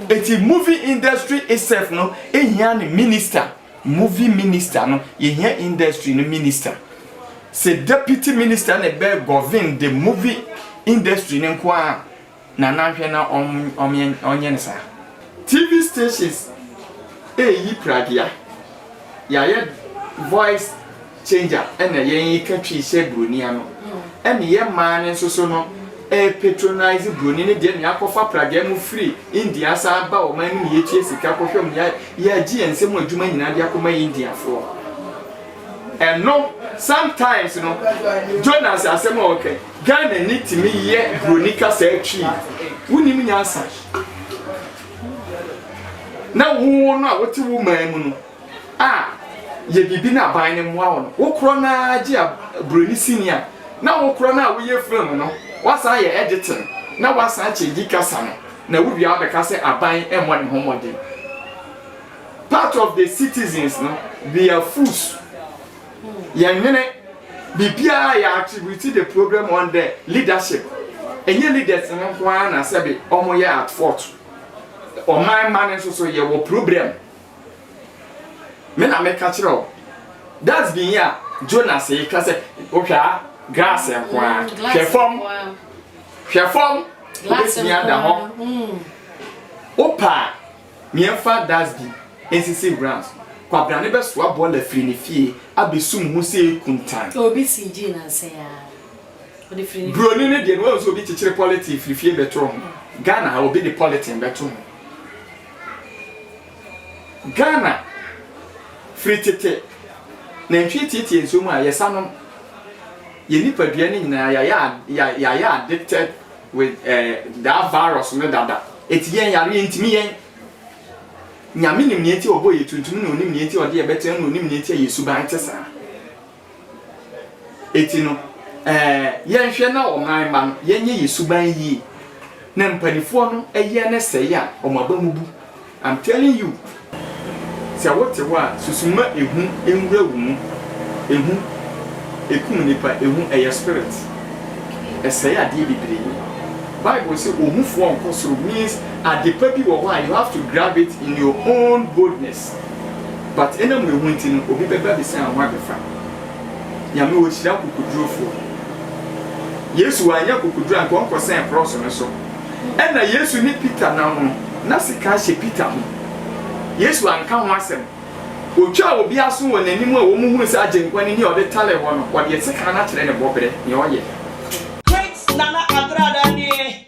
Eti movie industry itself no hia ne minister, movie minister no yɛhia industry no minister. Sɛ deputy minister na ɛbɛ govern the movie industry no nko ara na na nhwɛ na ɔnyɛ no saa. TV stations ɛreyi pragea, yɛayɛ voice. Changer ɛna yɛn yi ka twii sɛ broni ano ɛne yɛ mmaa no nso so no ɛɛpatronise broni no deɛ ne akɔfa pragyaɛ mu firi India asan aba ɔman no mu yɛtua sika kɔhwɛ mu yɛ yɛagye yɛn nsam adwuma nyinaa de akɔma India foɔ ɛno sometimes no Jonas asɛm a ɔka Ghana ni tumi yɛ broni kasaa twii wonim nyansa na wo no a wote wo man mu no a, yɛ biribi na aban no mmoa wo no. Wo korɔ no ara gye a buroni sini a, na wo korɔ no a woyɛ film no, woasan ayɛ editing na woasan akyɛngyi kasa no, na wowie a wobɛka sɛ aban mmɔ ne ho mmɔden. Part of the citizens no, we are fools. Yɛnnwene. Biribiara yɛ attribute the problem on the leadership. Ɛnyɛ leaders no nko ara na sɛbe wɔyɛ at fault. Ɔman mma no nso so yɛwɔ problem Me na meka kyerɛ wo. That's been here. Jonas yi ka sɛ wohwɛ a grass nko ara. Mm, hwɛ fam. Hwɛ fam. Wobɛtumi ada hɔ. Mm. Wopa a, meɛmfa dasbin nsisi wura so. Kwabra ne bɛsoa bɔɔla firi ne fie abɛsum ho sɛ ɛkuntan. Obi si gyi nansɛ ya. Buroni no deɛ no wɔn nso obi kyekyere pɔlitin firi fie bɛto ho. Ghana ha obi de pɔlitin bɛto ho. Ghana, firi tete, nantwie tietie nsuo mu a, yɛsa nom. Yɛn nipadua no nyinaa, yɛayɛ yɛayɛ addicted with eh, that virus no dada. Ɛti yɛn yareɛ ntumi yɛn. Nyame nim nea nti ɔbɔ yɛ tuntum na onim nea nti ɔde yɛ bɛtena na onim nea nti a yɛ suban te saa. Eti no, ɛɛ, yɛnhwɛ na ɔman mma no yɛnyɛ yɛn suban yie na mpaninfoɔ no yɛ ne sɛe a, wɔn aba mu bu. I'm telling you, sɛ wote hɔ a, susu ma ehu nwura wo mu. Ehu, ekum nnipa, ehu, ɛyɛ spirit. Ɛsɛe adeɛ bebree. Bible se ohufoɔ nkɔ soro means adepa bi wɔ hɔ a you have to grab it in your own boldness. but enam wehu nti no obi bɛba abisa ho abɛfa. Nyame ohyira akokodurofoɔ. Yesu wanyɛ akokoduro anka ɔnkɔ sɛn krɔɔso no so. Ɛna Yesu ne Peter nam no na sika ahyɛ Peter ho. Yesu anka ho asɛm. Otwaa obi aso wɔ nanim a wɔn hunu sɛ Agyenkwa no ni a ɔde tale hɔ no ɔdeɛ sika no akyerɛ ne bɔbrɛ nea ɔyɛ. Great Nana Agradaa nie.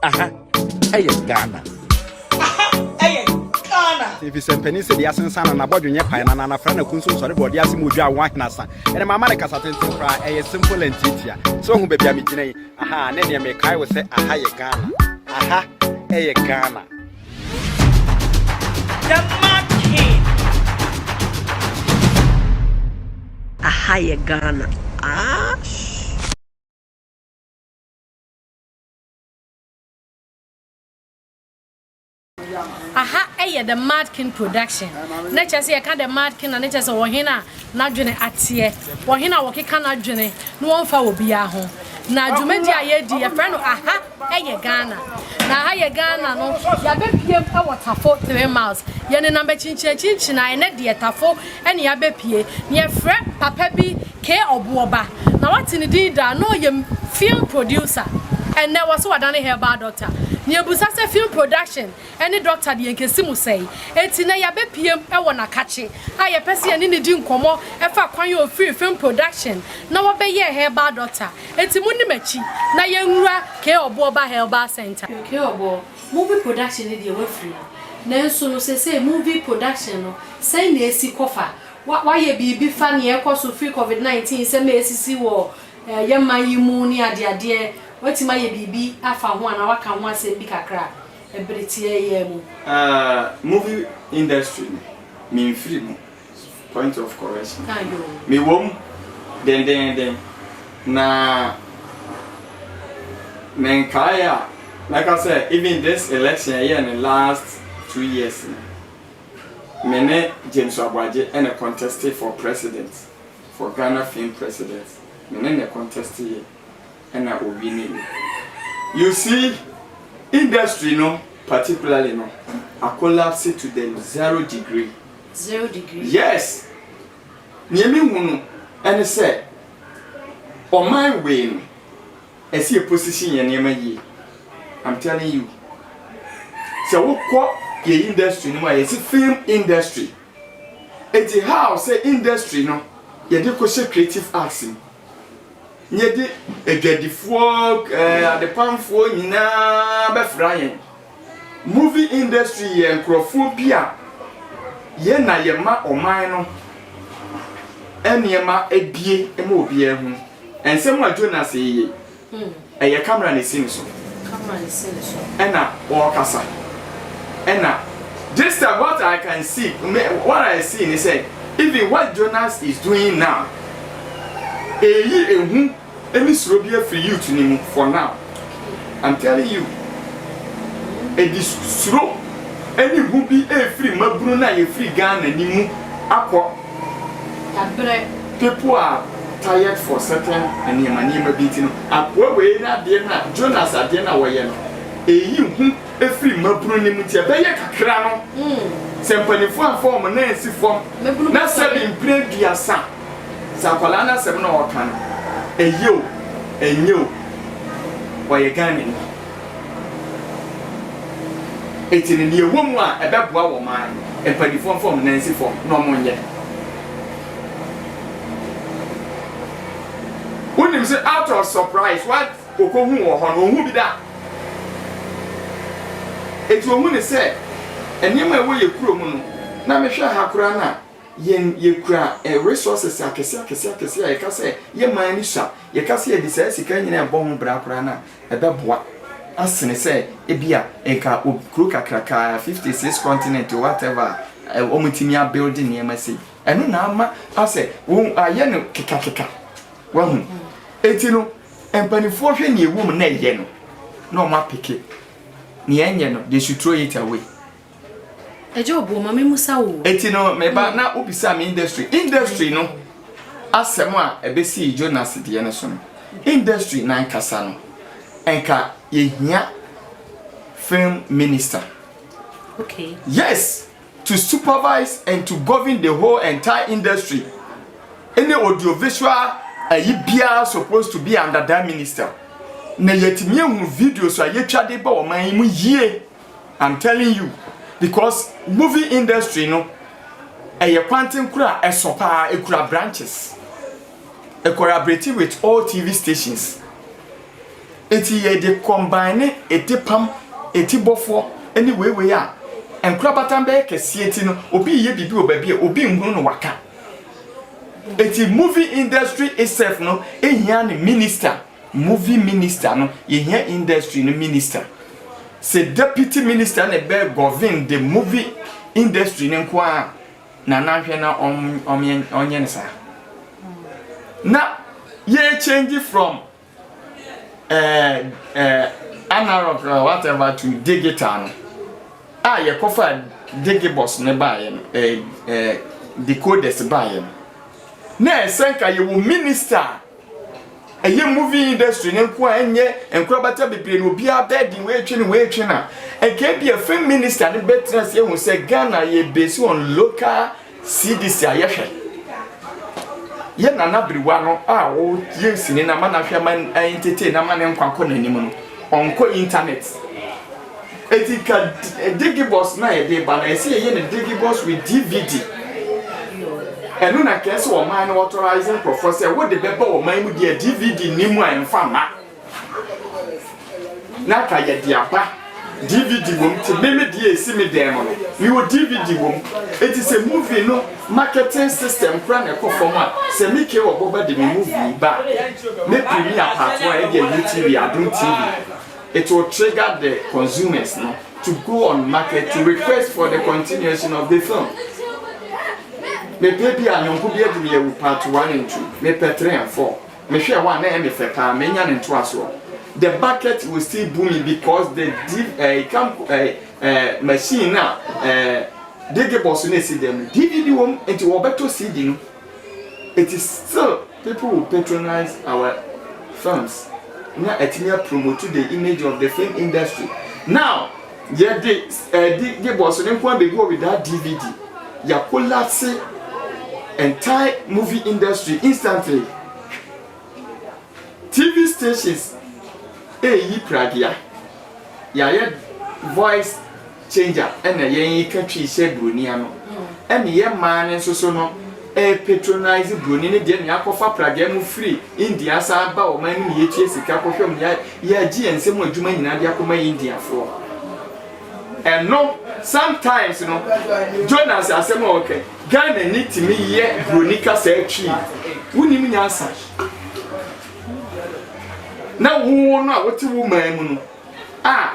Aha ɛyɛ Ghana. Aha ɛyɛ Ghana. Efisɛ mpanin sɛ deɛ asensan no n'abɔdwe nyɛ pae na n'anafra na kunso nsɔre bɔ ɔde ase mu odwa awo ahenasa. Ɛnna mama ne kasa tenten koraa ɛyɛ simple and tiatia. Sɛ ohu baabi a megyina yi, aha ne deɛ mekae wo sɛ aha yɛ Ghana. Aha ɛyɛ Ghana. The Mad King. Aha yɛ Ghana. Ah. aha yɛ the mad king production na kyerɛ sɛ yɛka the mad king na ne kyerɛ sɛ wɔhen a n'adwene ateɛ wɔhen a wɔkeka n'adwene na wɔmfa wɔ biara ho na dwumadi a yɛdi yɛfrɛ no aha yɛ ghana na aha yɛ ghana no yɛabɛpiem wɔ tafo 3 miles yɛnenam akyinkyinakyinkyina ɛnɛ deɛ tafo ne yɛabɛpie na yɛfrɛ papa bi Kay Obuo ba, na wate ne din daa, na ɔyɛ film producer. Ɛnnɛ, wɔse wadane herbal doctor. Miebisa sɛ film production ne doctor deɛ nkesi mu sɛn? Enti nnɛ yɛabɛpiem wɔ Nakakye a yɛpɛ sɛ yɛne no di nkɔmmɔ fa kwan a ɔfirii film production na ɔbɛyɛɛ herbal doctor. Enti monni m'akyi na yɛnwura Kay Obuo ba herbal center. Kay Obuo, movie production no deɛ woafiri mu, nanso no seesei movie production no sɛn na ɛsi kɔ fa Woayɛ biribi fa nea ɛrekɔ so firi Covid nineteen nsɛm a ɛresisi wɔ yɛn man yi mu ne adeadeɛ, woatumi ayɛ biribi afa ho anaa woaka ho asɛm bi kakra bere tiaa yi ara mu? Aah movie industry no me nfiri mu, point of correction, me wɔ mu dendeenden na me nkaeɛ a mɛka sɛ even this election a yɛyɛɛ no last two years no, Me ne James Aboagye na contestee for president for Ghana fame president me ne no contest yɛ ɛna ɔwine yɛ you see industry no particularly no a collapse to the zero degree Zero degree. yes neɛ me hunu ɛne sɛ ɔman wei no. Ɛsɛ yɛ position yɛn nneɛma yie I'm telling you sɛ wo kɔ yɛ industry no mu a yɛsi film industry eti how sɛ industry no yɛde kɔ hyɛ creative arts mu yɛde adwadifoɔ ɛɛ eh, adepamfoɔ nyinaa bɛfra yɛn. Movie industry yɛ nkorɔfoɔ bi a yɛ na yɛ ma ɔman no nneɛma abie ma obiara hu. Nsɛm a Jonas reye, ɛyɛ camera na ɛsi ne so ɛna ɔrekasa. Ɛna this time what I can see, what I see ne sɛ even what Jonas is doing now, ɛreyi ehu Emi suro bi afiri youth no mu for now I'm telling you edi suro ɛne hu bi ɛfiri mmabunu no a yɛfiri Ghana no mu akɔ people are tired for certain nneɛma nneɛma bi nti no akoa wei no adeɛ no a Jonas adeɛ no a wɔyɛ no ɛyi hu ɛfiri mmabunu no mu nti ɛbɛyɛ kakra no sɛ mpaninfoɔ amfa wɔn nan ansi fam na sɛbi mprɛ aduasa Sɛ akwadaa no asɛm na ɔreka no, ɛyɛ o, ɛnyɛ o, ɔyɛ Ghanani. Eti no, nea ɛwɔ mu a ɛbɛboa wɔ ɔman no, mpanimfoɔ mfa wɔn nan nsi fam na wɔnyɛ. Wonim sɛ out of surprise, what okohu wɔ hɔ no, ɔnhu bi da. Eti ɔhu ne sɛ, nneɛma a ɛwɔ yɛ kurom no, na mehwɛ ha koraa no a, Yɛn yɛkura eh resources akɛseɛ akɛseɛ akɛseɛ a yɛka sɛ yɛ man ani sua, yɛka sɛ yɛde saa sika nyinaa ɛbɔ ho bra koraa no a ɛbɛboa asene sɛ ebia nka obi kuro kakraka 56 continent o whatever a wɔatumi a build nneɛma sei. Ɛno na ama asɛ wɔn ayɛ no kekakeka wahu. Enti no mpanifoɔ hwɛ nea ɛwɔ mu na ɛyɛ no na wɔn apeke nea ɛnyɛ no they should throw it away. Agya Obuo, ma memmusa wo. Enti no, me ba, na wobisa me industry. Industry no asɛm a ɛbɛsii Jonas deɛ no so no, industry no ankasa no, nka yɛhia film minister. Okay. Yes, to supervise and to govern the whole entire industry. Ɛne audiovisual ayi biara supposed to be under that minister. Na yɛtumi ahunu videos a yɛtwa de ba ɔman yi mu yie. I'm telling you because movie industry no ɛyɛ kwanten kora ɛso paa ekura branches ɛkɔrabrɛti with all TV stations eti yɛ de combine ne eti pam eti bɔfoɔ ɛne weiwei a nkorabatan bɛyɛ kɛseɛ ti no obi yɛ bibi wɔ baabi a obi nhunu no waka eti movie industry itself no ehia ne minister. Movie minister no yɛhia industry no minister sɛ deputy minister na ɛbɛ govern the movie industry no nko ara na nanhwɛ na ɔnyɛ no saa na yɛ change from eh, eh, analog uh, whatever to digital no a yɛkɔfa digibus no baeɛ no eh, eh, decoders baeɛ no na ɛsɛ nka yɛwɔ minister ɛyɛ movie industry ne nko a ɛnyɛ nkorabata bebree na obiara bɛɛden wɔatwe ne wɔatwe no a nka ebi a film minister no bɛtena ase ehu sɛ ghana yɛ base on local cdc a yɛhwɛ yɛ nana biriwa no a wɔyɛ nsini na ama n'ahwɛ ama ɛntetee na ama ne nkwa kɔ n'anim no ɔnkɔ internet Enti twa Digibus no a yɛde ba no, ɛsɛ yɛyɛ no Digibus with DVD. Ɛno na kɛɛ sɛ ɔman no authorize nkurɔfoɔ sɛ wode bɛba ɔman mu deɛ DVD ni mu a ɛmfa mma. Na ka yɛde aba DVD wom ti meme deɛ ɛsi me dan mu no mewɔ DVD wom eti sɛ movie no marketing system kora na ɛkɔ fam a sɛ me kee ɔbɔba de me movie ba me premier part one ɛdeɛ UTV adom TV It will trigger the consumers no to go on market to request for the continuation of the film. Mepɛ bi a nyɔnko bi adi me awu part one and two. Mepɛ three and four. Mehwɛ one na ɛyɛ me fɛ paa. Menya ne ntoasoɔ. The market will still boom me because the div ɛɛ eh, kam ɛɛ eh, ɛɛ eh, machine na ɛɛ digibɔs na esi dɛm. DVD wɔm nti wɔbɛtɔ CD no. It is still. People will patronise our films na atumi apromotu the image of the film industry. Now, yɛde ɛde Gibos no nko ara bɛgu hɔ with that DVD. Yɛakolapse entire movie industry instantly. TV stations ɛreyi pragea. Yɛayɛ voice. Changer ɛna yɛn yi ka twii sɛ broni ano ɛne yɛ mmaa no nsoso no ɛɛ patronise broni no deɛ ne akɔfa pragya mu firi India asan aba ɔman no mu yɛtua sika kɔhwɛ mu yɛ yɛagye yɛn nsɛm mu adwuma nyinaa de akɔma India foɔ ɛno sometimes no Jonas asɛm a ɔkɛ Ghana ni timi yɛ broni kasa atwi wonim nyansa na wo no a wote wo man mu no a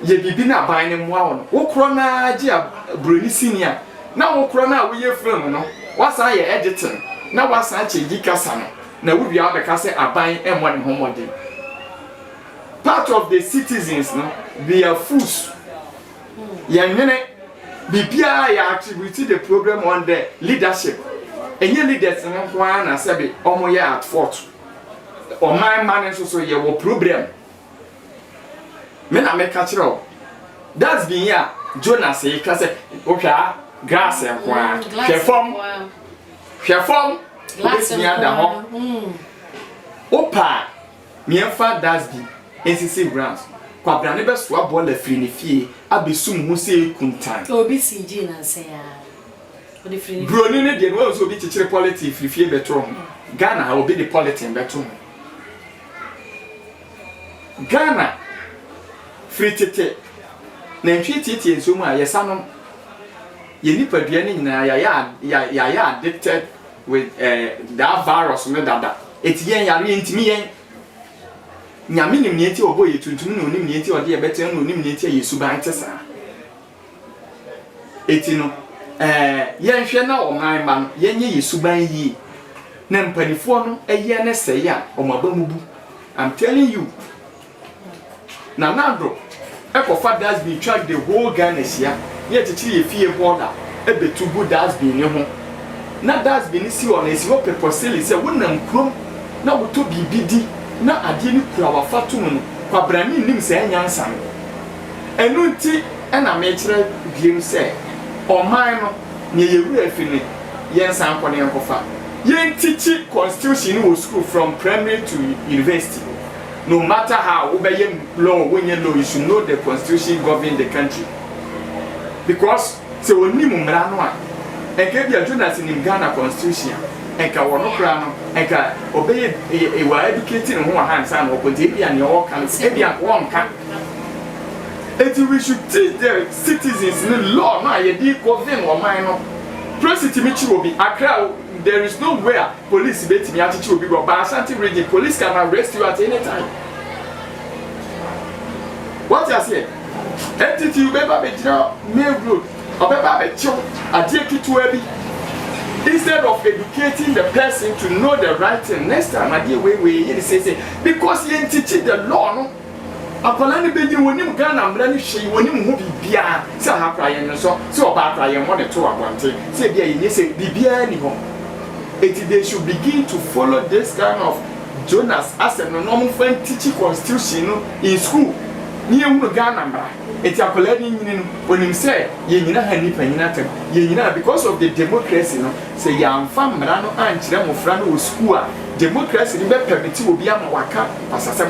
yɛ biribi na aban no mmoa wo no, wo korɔ no ara gye a buroni sini a, na wo korɔ no a woyɛ film no, woasan ayɛ editing na woasan akyɛ yi kasa no, na wowie a wobɛka sɛ aban mmɔ ne ho mmɔden. Part of the citizens no, they are fools. Yɛnwene biribiara yɛ attribute the problem on the leadership. Ɛnyɛ leaders no nko ara na sɛbe wɔyɛ at fault. Ɔman mma no nso so yɛwɔ problem. Me na meka kyerɛ wo. Dustbin yi a Jonas yi ka sɛ wohwɛ a grass nko ara. Mm, glass Hwɛ fam. nkoa. Hwɛ fam. Glass Wobɛtumi ada nkoa. hɔ. Mm. Wopɛ a, meɛmfa dustbin nsisi ground so. Kwabena no bɛsoa bɔɔla firi ne fie abɛsum ho sɛ kuntan. Obi sii gyii nansa yi ara. Ɔde firi ne Buroni no deɛ no, wahu sɛ obi kyekyere polythene firi fie bɛtoo ho. Ghana ha, obi de polythene bɛto ho. Ghana, firi tete, nantwie tietie nsuo mu a, yɛsa nom. Yɛn nipadua no nyinaa, yɛayɛ yɛayɛ addicted with eh, that virus no dada. Ɛti yɛn yareɛ ntumi yɛn. Nyame nim nea nti ɔbɔ yɛ tuntum na onim nea nti ɔde yɛ bɛtena na onim nea nti a yɛ suban te saa. Enti no, ɛɛ, yɛnhwɛ na ɔman mma no, yɛnyɛ yɛn suban yie na mpanimfoɔ no yɛ ne sɛe a, wɔn aba mu bu. I'm telling you. Nana Addo kɔfa dustbin twa the whole Ghana hyia na yɛkyekyere yɛn fie hɔɔla bɛtu gu dustbin no ho. Na dustbin no si hɔ no, ɛsi hɔ pɛpɔ sele sɛ wonam kurom na wotɔ biribi di na adeɛ no kura wo afatomu no, kwabrane nnim saa nyansa no. Ɛno nti na mekyerɛ biem sɛ, ɔman no, nea yɛn werɛ afi no, yɛnsan nkɔ na yɛnkɔfa. Yɛntikyi constitution no wɔ sukuu from primary to university. No matter how, wobɛyɛ law o, wonyɛ law, you should know the constitution govern the country. Because sɛ wɔnnim mmara no a, nka ebia Jonas nim Ghana constitution a, nka ɔno koraa no, nka ɔbɛyɛ, he will educate ne ho wɔ ha ansa na wakɔ, nti ebia nea ɔreka no, ebia nka ɔnka. Enti we should teach the citizens ne law no a yɛde govern ɔman no. Polisi tumi kyi obi, Accra there is no way a polisi bɛtumi akyekye obi wɔ but Ashanti region police can arrest you at any time. Wate aseɛ? Enti ti wobɛba bɛgyina main road, ɔbɛba abɛkyew adeɛ ketewa bi instead of educating the person to know the right thing next time adeɛ wei wei yɛ ne seesei because yɛnkyekye the law no. Akwadaa no bɛnyini, ɔnim Ghana mmara no hwee, ɔnim ho biribiara, sɛ aha koraa yɛnwosɔ, sɛ ɔbaa koraa yɛmmɔ no to wɔ abɔnten, sɛ ebia yɛnyɛ sɛ, biribiara nni hɔ. Enti they should begin to follow this kind of Jonas asɛm no na wɔmfa ntikyi constitution no in school na yɛnhunu Ghana mmara. Enti akwadaa no nyini no, ɔnim sɛ yɛnyina ha nni panyin atam, yɛnyina ha because of the democracy no, sɛ yɛamfa mmara no ankyerɛ mmɔfra no wɔ school a, democracy no bɛpɛmete obi ama waka basasɛm.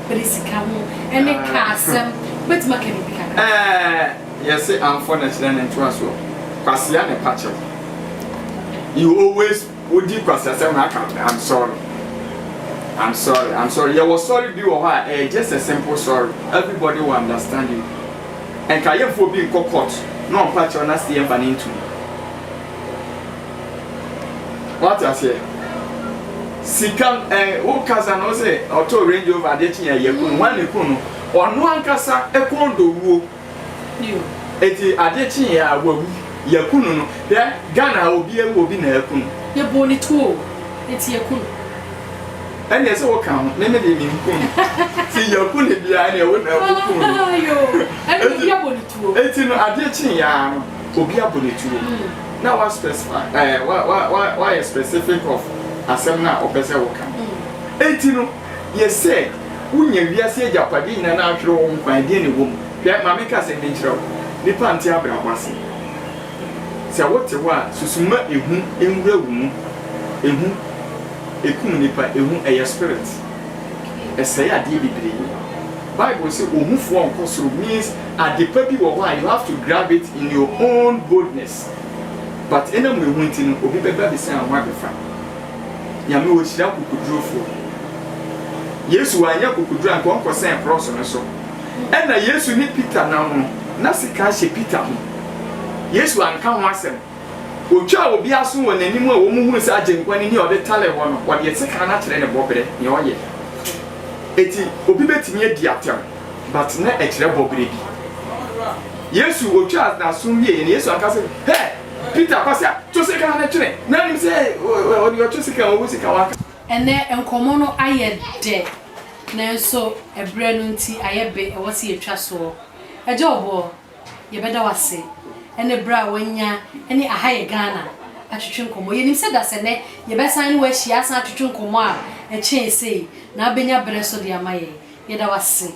Bɛde sika ho ne car asɛm. Wobɛtumi aka biribi kakra? Ɛɛ, yɛse amfɔ na kyerɛ ne ntoasoɔ. Kwasea na ɛpa kyɛw. You always wodi kwasiasɛm na aka ɔtena. I'm sorry. I'm sorry. I'm sorry. Yɛwɔ sorry bi wɔ hɔ a ɛyɛ just a simple sorry. Everybody will understand you. Nka yɛmfa obi nkɔ court na ɔmpa kyɛw na sɛ yɛmfa no nto mu. wate aseɛ sika ɛɛ wo kasa no sɛ ɔtɔ range rover adeɛ kyen ɛyɛ kun wɔn ne kun no ɔno ankasa ɛkɔn do wuo eti adeɛ kyen yɛ a wawu yɛ kun no hwɛ ghana obi ewu obi na ɛkun no yɛ bɔ ne tuo eti yɛ kun ɛna ɛsɛ wɔ kan ho mɛmɛ deɛ mi nkun ti yɛ kun ne bia ɛna ɛwɔ na ɛkun no eti no adeɛ kyen yɛ a no. obi abɔ ne tuo na wa specify ɛɛ eh, wa wa wa wayɛ specific of asɛm no a ɔpɛ sɛ woka no enti no yɛ sɛ wonya wiase agyapadeɛ nyina no ahwere wo ho kwan deɛ ne wɔ mu hwɛ ma menka asɛm bi nkyerɛ wo nipa nte abrabɔ ase sɛ wote hɔ a susuma ehu nwura wo mu ehu ekum nipa ehu ɛyɛ spirit ɛsɛe adeɛ bebree Bible se ohufoɔ nkɔ soro means adepa bi wɔ hɔ a you have to grab it in your own boldness but enam wehu nti no obi bɛba abɛsian wo ho abɛfa. Nyame ɔhyira akokodurofoɔ. Yesu wanyɛ akokoduro anka ɔnkɔ sɛn krɔɔso no so. Ɛna Yesu ne Peter nam no na sekan hyɛ Peter ho. Yesu anka ho asɛm Otwaa obi aso wɔ n'anim a wɔhuu sɛ Agyenkwa no ni a ɔde taree hɔ no, ɔde sekan no akyerɛ ne bɔberɛ, nea ɔyɛ. Enti obi bɛtumi adi atɛm, but na ɛkyerɛ bɔberɛ bi. Yesu, otwaa n'aso wieɛ no, Yesu anka sɛ, Hɛ! Peter, Kwasia, to sekan no twene. Na nim sɛ ɔde ɔtwe sekan a, ɔwɔ sika, wanka. Ɛnnɛ, nkɔmmɔ no ayɛ dɛ, nanso ɛberɛ no nti ayɛ be, ɛwɔ sɛ yɛtwa soɔ. Agya Ɔboɔ. Yɛbɛda wo ase ne berɛ a woanya ne Aha Yɛ Ghana atwetwe nkɔmmɔ. Yɛnim sɛ dasɛnnɛ yɛbɛsan ne wo ahyia asan atwetwe nkɔmmɔ a ɛkyɛn sei na wobɛnya berɛ nso de ama yɛn. Yɛda wo ase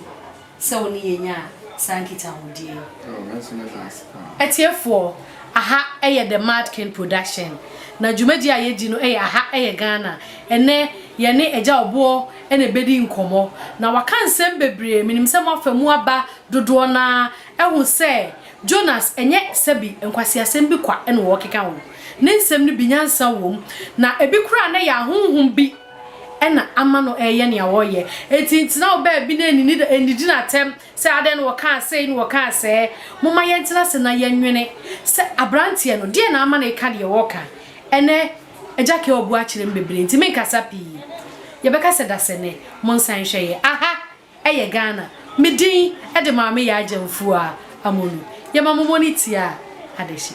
sɛ wo ne yɛn nyaa saa nkitahodie yi. Oh, me nso meda ase paa. Atiefoɔ, aha yɛ The Mad King Production, na dwumadie a yɛdi no yɛ Aha Yɛ Ghana. Ɛnnɛ, yɛne Agya Ɔboɔ na ɛbɛdi nkɔmmɔ, na waka nsɛm bebree. Menim sɛ moafa mu aba Dodoɔ no ara ahu sɛ Jonas nyɛ sɛbi nkwaseasɛm bi kwa na ɔrekeka ho. Ne nsɛm no bi nyansa wɔ mu, na ebi koraa na ɛyɛ ahonhom bi na ama no reyɛ nea ɔreyɛ. Enti ntena wo baabi na nnidi no atɛm sɛ adɛn na ɔkaa sei na ɔkaa sɛɛ. Momma yɛntena ase na yɛnnwene sɛ aberanteɛ no, deɛn na ama no reka deɛ ɔreka? Ɛnnɛ, Agya Kel abu akyerɛ me bebree, enti merenkasa pii. Yɛbɛka sɛ dasani. Monsan nhwɛ yɛn. Aha! Ɛyɛ Ghana me din de maame Yaa Gyamfua Amono. Yɛma momɔ no tia adehye.